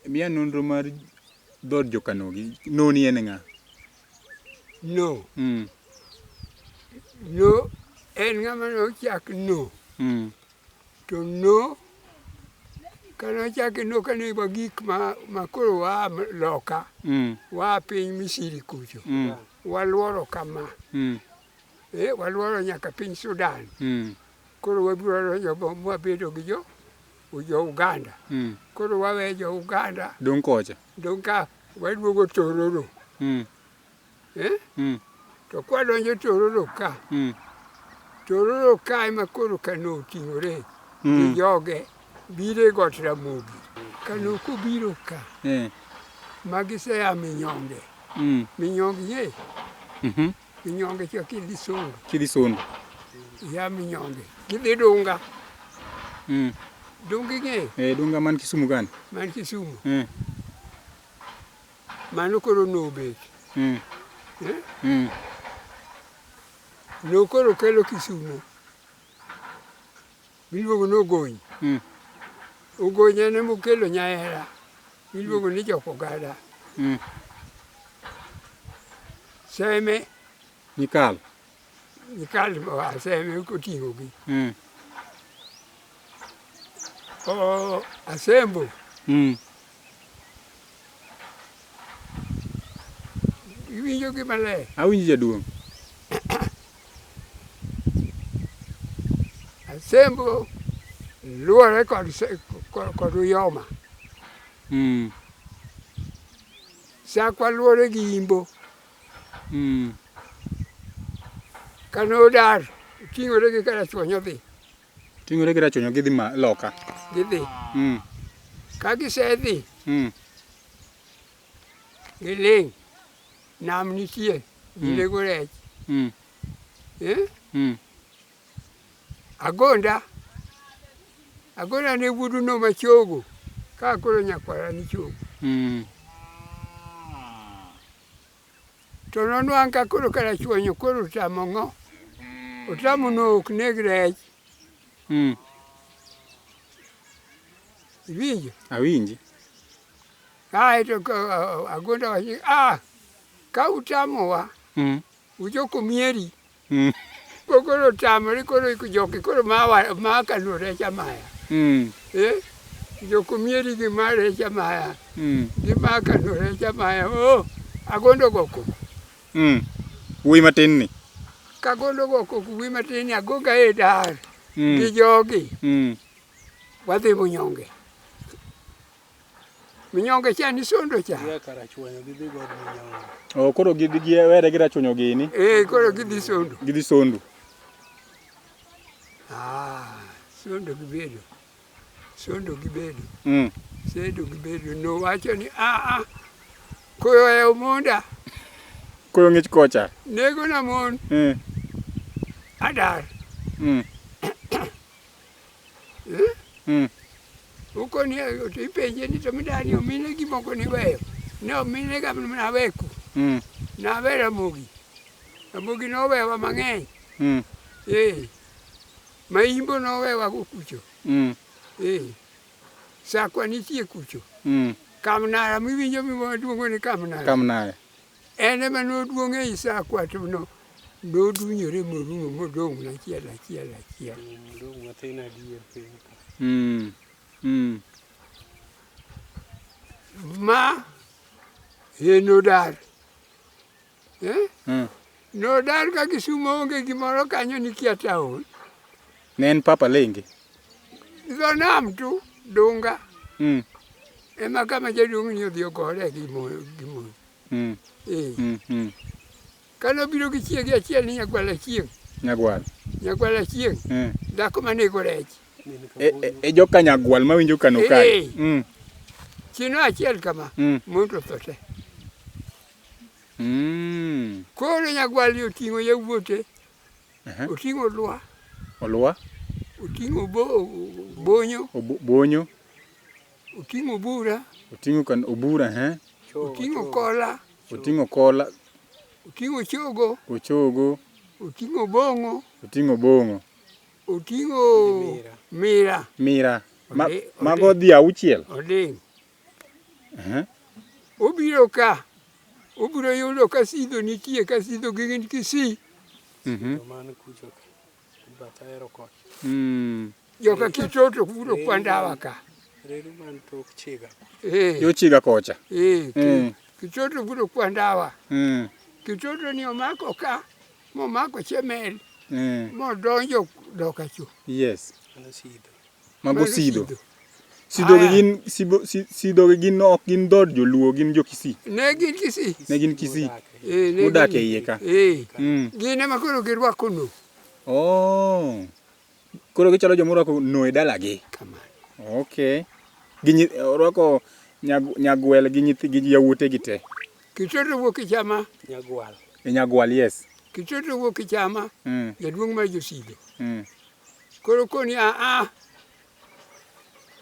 Miya nonro mar dhood jokanogi. Noni en ng'a? No. Mm. No en ng'ama nochak no. Mm. To no kanochake no kane wa gik ma ma koro wa loka. Mm. Wa piny Misiri kucho. Mm. Waluoro kama. Mm. Eh, waluoro nyaka piny Sudan. Mm. Koro wabiro donjo bomo wabedo gi jo jo Uganda. Mm. Koro wawe jo Uganda. Dong kocha. Dong ka waduogo Tororo. Mm. Eh? Mm. To kwa donjo Tororo ka. Mm. Tororo ka ema koro kano oting'ore. Mm. Gi joge. Bire got Ramogi. Kano kobiro ka. Eh. Magi se a Minyonge. Mm. Minyonge ye. Mm -hmm. Minyonge cha Kilisungu. Kilisungu. Ya Minyonge. Kidhi Dunga. Mm. Dunga ing'eyo? Eh, Dunga man Kisumu gani? Man Kisumu. Mm. Mano koro nobet. Mm. Eh? Mm. Nokoro kelo Kisumu. Giluongo ni ogony. Hmm. Ogony en ema okelo nyahera. Giluongo ni jok ogada. Hmm. Seme. Nikal. Nikal oa seme oting'o gi. Hmm. Asembo. Iwinjo gi maler. Awinjo jaduong'. Asembo luwore kod kod uyoma. Mm. Sakwa luwore gi imbo. Mm. Kano dar ting'ore gi karachuonyo dhi. Ting'ore gi rachonyo gidhi ma loka. Gidhi. Mm. Ka gisedhi. Mm. Giling'. Nam nitie. Gilego mm. rech. Mm. Eh? Mm. Agonda. Agonda ne wuduno machogo. Ka koro nyakwara ni chogo. Mm. To nonwang' ka koro karachuonyo koro otamo ng'o. Otamo no ok neg rech. Mm. Iwinjo? Awinji. Kae to agonda wachi, ah, ka utamowa, mm. ujoko mieri. Mm. Ko koro tamri koro iko joki koro ma wa- ma kano recha maya. Mm. Eh? Joko mieri gi ma recha maya. Mm. Gi ma kano recha maya. Oh, agondo go koko. Mm. Wuoyi matin ni. Kagondo go koko wi matin ni agoga e dar. Gi Mm. jogi. Mm. Wadhi munyonge. Minyonge cha ni sondo cha. Ye kara chuonyo gi dhigo od minyonge. Oh, koro gidhi gi were gi rachuonyo gini. Eh, koro gidhi sondo. Gidhi sondo. Ah, sondo gi bedo. Sondo gi bedo. Mm. Sondo gi bedo no wacho ni a ah, a ah, koyo e omonda. Koyo ngich kocha. Nego na mon. Mm. Adar. Mm. Eh? Mm. Ukoni ipenje ni to midani omine gimoko niweyo. Ne omine ga mana weku. Mm. Na vera mugi. Amugi no wewa mang'eny. Mm. Eh. Maimbo no wewa kucho. Mm. Eh. Sakwa nitie kucho. Mm. Kamnara miwinjo miwa duongo ni kamnara. Kamnara. En ema noduong' ei sa kwatuno, nodunyore morumo modong' achiel achiel achiel. Odong' matin adier piny ka. Mm. Mm. Ma enodar. Eh? Mm. Nodar ka Kisumo onge gimoro kanyo nikia taon. Ne en Papa Lenge? Dho nam tu, Dunga. Mm. Ema kama jaduong' ni odhi ogore gi moyo. Gi moyo. Mm. Eh. Mm. Mm. Kane obiro gi chiege achiel ni Nyagwal Achieng'. Nyagwal. Nyagwal Achieng'. Mm. Dhako manego rech. E, e, e joka Nyagwal mawinjo kano eh. kae. Mm. Chino achiel kama. Mm. Mondo thote. Mm. Koro nyagwalni oting'o yawuote, oting'o lwa, Olwa, oting'o bo- bonyo, obo- bonyo, oting'o bura, oting'o kan obura, he, oting'o kola, oting'o kola, oting'o chogo, ochogo, oting'o bong'o, oting'o bong'o, oting'o mira, mira. Ma, Ode- mago dhi auchiel. oding'. Obiro ka, obiro yudo ka sidho nitie, ka sidho gi gin Kisii. Mhm. Mm. Joka Kitoto kuro kwa ndawa ka. Reru man tok chiga. Eh. Yo chiga kocha. Eh. Mm. Kitoto kuro kwa ndawa. Mm. Kitoto ni omako ka, momako chemel. Mm. Modonjo doka chu. Yes. Ana sidho. Mago Sido. Sido gi gin Sibo Sido gi gin ok gin dhood Joluo gin jo Kisii. Ne gin Kisii. Ne gin Kisii. Eh, ne Modak gin- e iye ka. Eh. Mm. Gin ema koro girwako no. Oh. Koro gichalo joma orwako no e dalagi. Kamano. Okay. Gi nyi- orwako nyag- nyagwel gi nyithi gi yawuote gi te. Kitoto wuok e chama. Nyagwal. E nyagwal yes. Kitoto wuok e chama. Mm. Jaduong' mar josido. Mm. Koro koni a a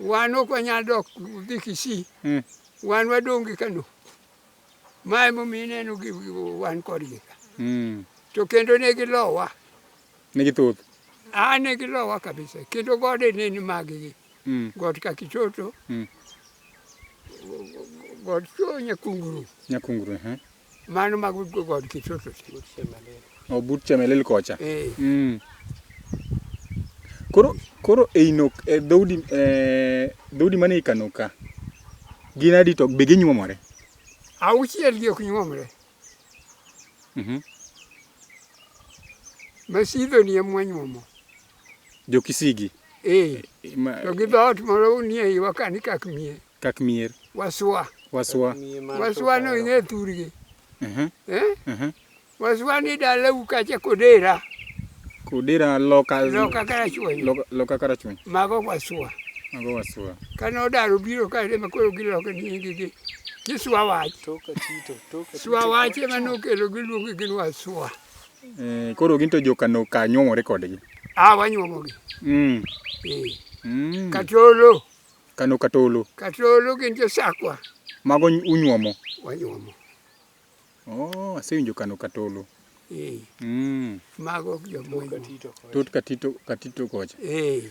wan ok wanyal dok dhi Kisii. Mm. Wan wadong' gi Kano. Ma emomiyo ineno gi wan kodgi ka. Mm. To kendo ne gilowa. Ne githoth. A ne gilowa kabisa. Kendo gode ne ni maggi. Mm. God Kakichoto. Mm. God Nyakungurum. Nyakungurum. Mano mag god Kitoto. O but Chemelil kocha. Eh. Mm. Koro koro e Inok e dhoudi e dhoudi mane ikano ka. Gin adi to be ginyuomore? Auchiel gi ok nyuomre. Mhm. Masidho ni ema nyuomo. Jo Kisigi. Eh. eh to gi dhoot moro nie iwa kani kak mie. Kak mier. Waswa. Waswa. Waswa no ing'e thurgi. Uh-huh. Eh? Uh-huh. Waswa ni dalau kacha kodera. Kodera loka. Loka karachuonyo. Loka, loka karachuonyo. Mago waswa. Mago waswa. Kane odaro biro ka ema koro giloke nyingi gi kiswa wach. Toka tito, toka. Swa wach ema nokelo giluongi gin waswa. Eh, koro gin to joka no ka nyuomore kodgi. Ah, wanyuomogi. Mm. Eh. Mm. Katolo. Kano katolo. Katolo gin jo sakwa. Mago unyuomo? Wanyuomo. Oh, asewinjo kano katolo. Eh. Mm. Mago jo mwinyo. Tot katito, katito kocha. Eh.